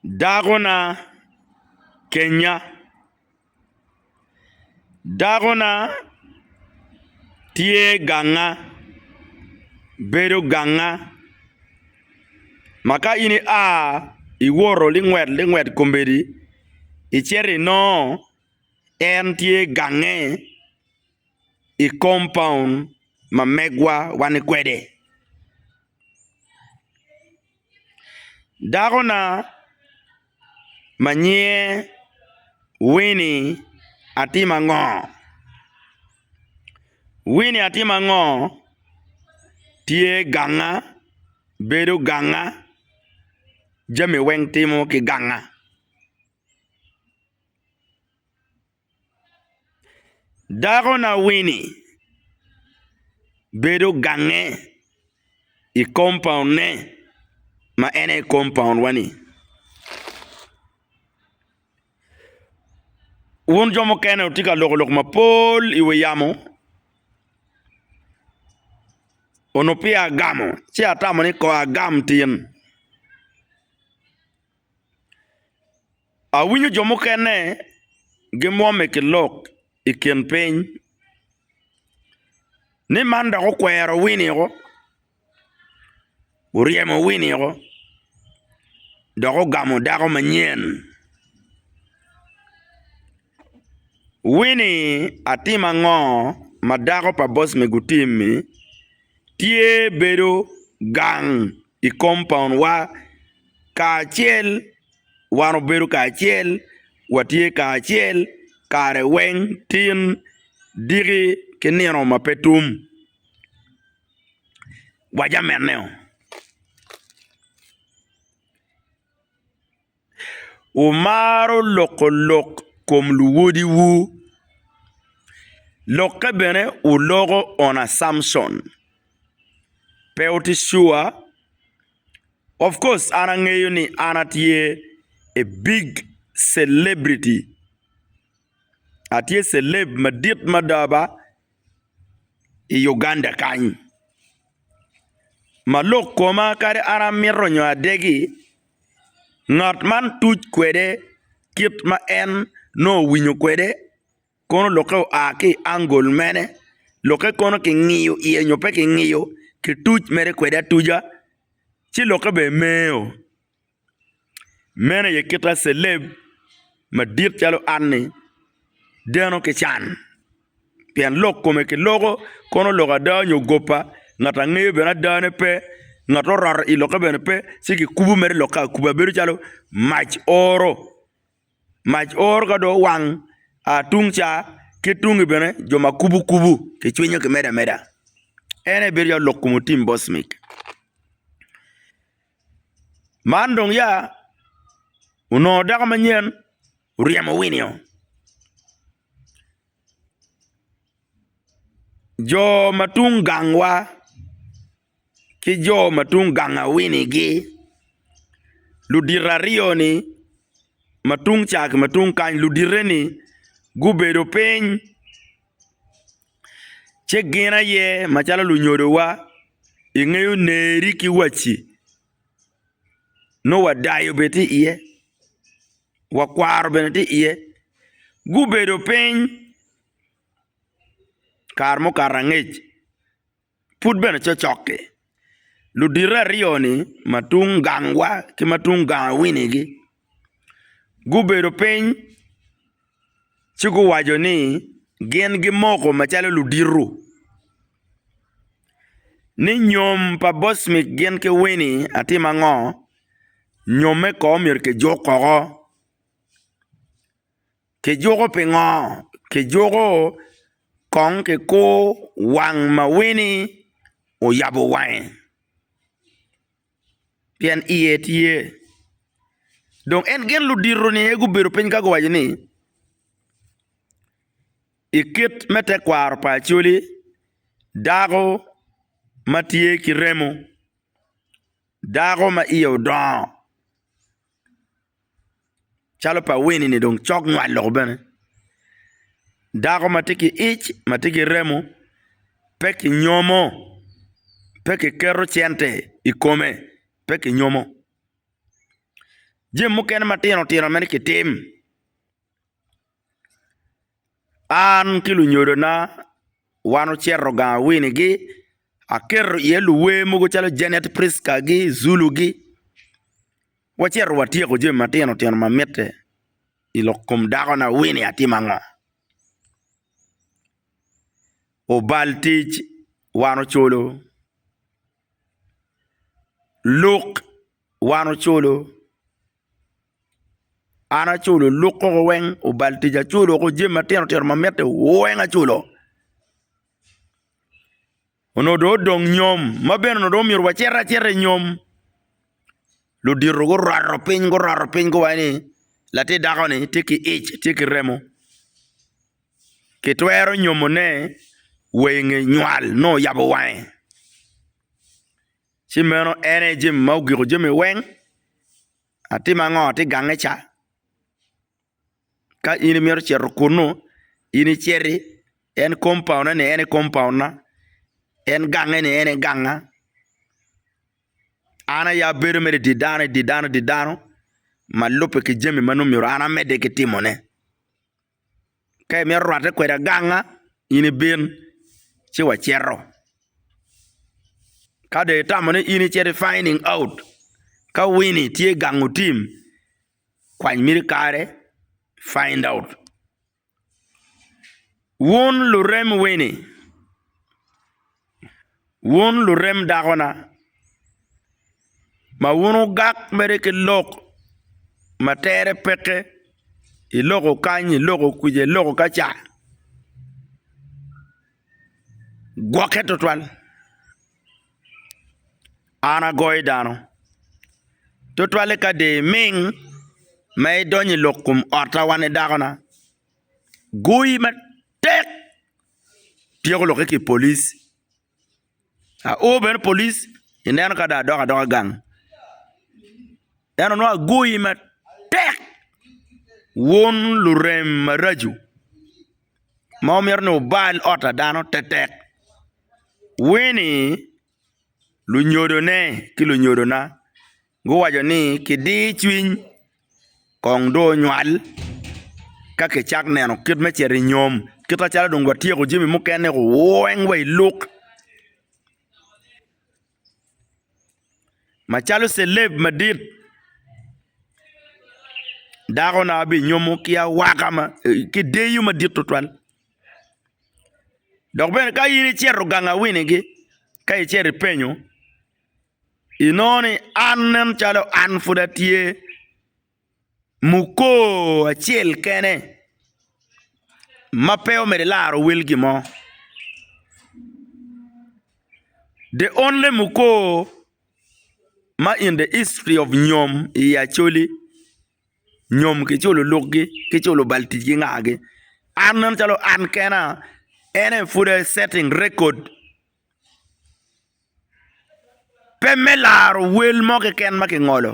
Dakona kenya, dakona tye ganga, bedo ganga ma ka in ia iwoto lingwet lingwet kombeddi icito inongo en tye gange. i kompaun ma megwa wani kwede. Dakona ma nyinge Wini atimo ango? Wini atimo ango tye ganga, bedo ganga, jami weng timo ki ganga. Dakona-wini bedo gange i kompaunne ma en aye kompaunwa-ni wun jo mukene wutye ka loko lok mapol i wi yamo onongo peya agamo ci atamo ni kong agam tin. Awinyo jo mukene gimwome ki lok i kin piny, ni man dok okwero winiko, oryemo winiko, dok ogamo dako manyen. Winnie, atim ango ma dako pa boss me gutim-mi, tye bedo gang i kompaun wa kacel wan obedo kacel watye kacel kare weng tin diki ki nino ma pe tum wa jamenne-o. Wumaro loko lok kom luwodiwu. Lokke bene wuloko on assumption. Pe wuti sure? Of course an angeyo ni an atye a big celebrity, atye celeb madit mada ba i Uganda kany ma lok koma kadi an amito nyo adegi. Ngat man tuc kwede kit ma en nongo owinyo kwede kono lokke oa ki i angol mene lokke kono kingiyo iye nyo pe kingiyo kituc mere kwede atuca ci lokke bene meo meno aye kita celeb madit calo an-ni deno ki can. pien lok kome ki loko kono lok ada nyo gopa ngat angeyo bene adane pe ngat oraro i lokke bene pe ci kikubo mere i lokke akuba bedo calo mac oro mac oro ka dong owang tung ca ki tungi bene jo ma kubo kubo kicwinyo kimedo ameda en aye bedo calo lok kom otim boss mic man dong ya onongo dako manyen oryemo winio. Jo ma tung gangwa ki jo ma tung gang awinigi ludito aryo-ni ma tung ca ki ma tung kany ludite-ni gubedo piny ci gin aye macalo lunyodowa ingeyo neri ki waci nongo wadayo bene tye iye, wakwaro bene tye iye, gubedo piny kare mukato angec pud bene cokcok-ki ludito aryo-ni ma tung gangwa ki ma tung ganga wini-gi gubedo piny ci guwaco ni gin gimoko macalo luditu ni nyom pa boss mit gin ki Winnie atim ango nyomme kono myero kijuk koko, kijuko pingo? kijuko kong kikur wang ma Winnie oyabo wange. pien iye tye. Dong en gin ludito-ni aye gubedo piny ka guwaco ni, I kit me tekwaro pa Acholi, dako ma tye ki remo, dako ma iye odongo, calo pa Winnie ni dong cok nywal loko bene. Dako ma tye ki ic ma tye ki remo pe kinyomo, pe kiketo cente i kome, pe kinyomo jami mukene matino tino mere kitim. An ki lunyodona wan ocito gang awinigi, aketo iye luwer mogo calo Janet Prisca-gi, Zulu-gi, wacito watyeko jami matino tino ma mitte i lok kom dakona Winnie atim ango? Obal tic wan oculo, luk wan oculo. An aculo luk koko weng obal tic aculo koko jami matino tino ma mitte weng aculo onongo dong odong nyom ma bene onongo dong omyero wacit acita i nyom ludito guroto piny guroto piny guwaco ni latin dako-ni tye ki ic tye ki remo kitwero nyomone wa i nge nywal nongo oyabo wange. ci meno en aye jami ma ogiko jami weng, atim ango ati gange ca? Ka in imito cito kunu, in iciti, en kompaunne ni en aye kompaunna, en gange ni en aye ganga, an aye abedo mere i di dano, i di dano, i di dano ma lubbe ki jami ma nongo myero an amedde ki timone. Ka imito rwatte kwede aganga, in ibin ci wacito. Ka dong itamo ni in icito i finding out ka Winnie tye i gang otim, kwany miti kare find out. Wun lurem Winnie. Wun lurem dakona, ma wun wugak mere ki lok ma tere peke i loko kany, i loko kwija, i loko kaca, gwokke twatwal. An agoyo dano twatwali ka dong iming ma idonyo i lok kom otta wani dakona. Goyi matek! tyeko lokke ki i polic, ao bene i polic ineno ka dong adok adoka gang ento nongo agoyi matek wun lurem maraco ma wumito ni wubal ot pa dano tektek wini. lunyodone ki lunyodona guwaco ni kidir cwiny kong dong onywal ka kicak neno kit me cito i nyom kit macalo dong watyeko jami mukene weng wa i lok macalo celeb madit dakona binyomo ki awaka ma ki deyo madit tutwal. Dok bene ka in icito ganga winigi ka icito ipenyo inongo ni an nen calo an pud atye mukor acel kene ma pe omyero ilaro wel gimo the only mukor ma in the history of nyom i Acholi. nyom kiculo lukgi kiculo bal tic ki nga gi an nen calo an kena en aye pud aye setting record pe me laro wel mo keken ma kingolo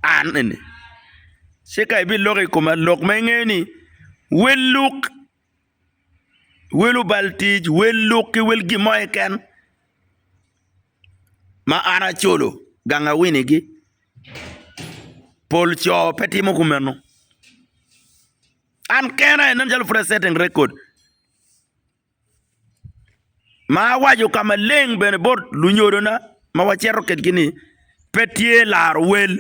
an eni ci ka ibiloko i koma lok ma ingeyo ni wel luk wel obal tic, wel luk ki wel gin mo keken ma an acolo gang awinigi. Pol co pe timo kumeno, an kena aye nen calo pud a setting record ma awaco ka maleng bene bot lunyodona ma wacito kwedgi ni pe tye laro wel.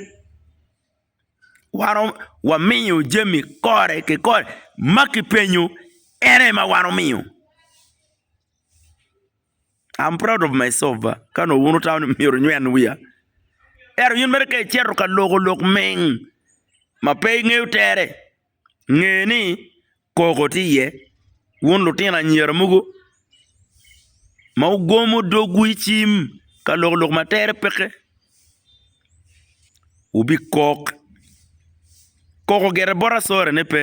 waromo wamiyo jami kore ki kore ma kipenyo en aye ma wan omiyo am proud of my self ba ka nongo wun wutamo ni myero wunyen wiya ento in mere ka icito ka loko lok ming ma pe ingeyo tere. nge ni koko tye iye wun lutino anyira mogo ma wugomo dogwu i cim ka loko lok ma tere peke wubikok, koko gire bot asore ne pe.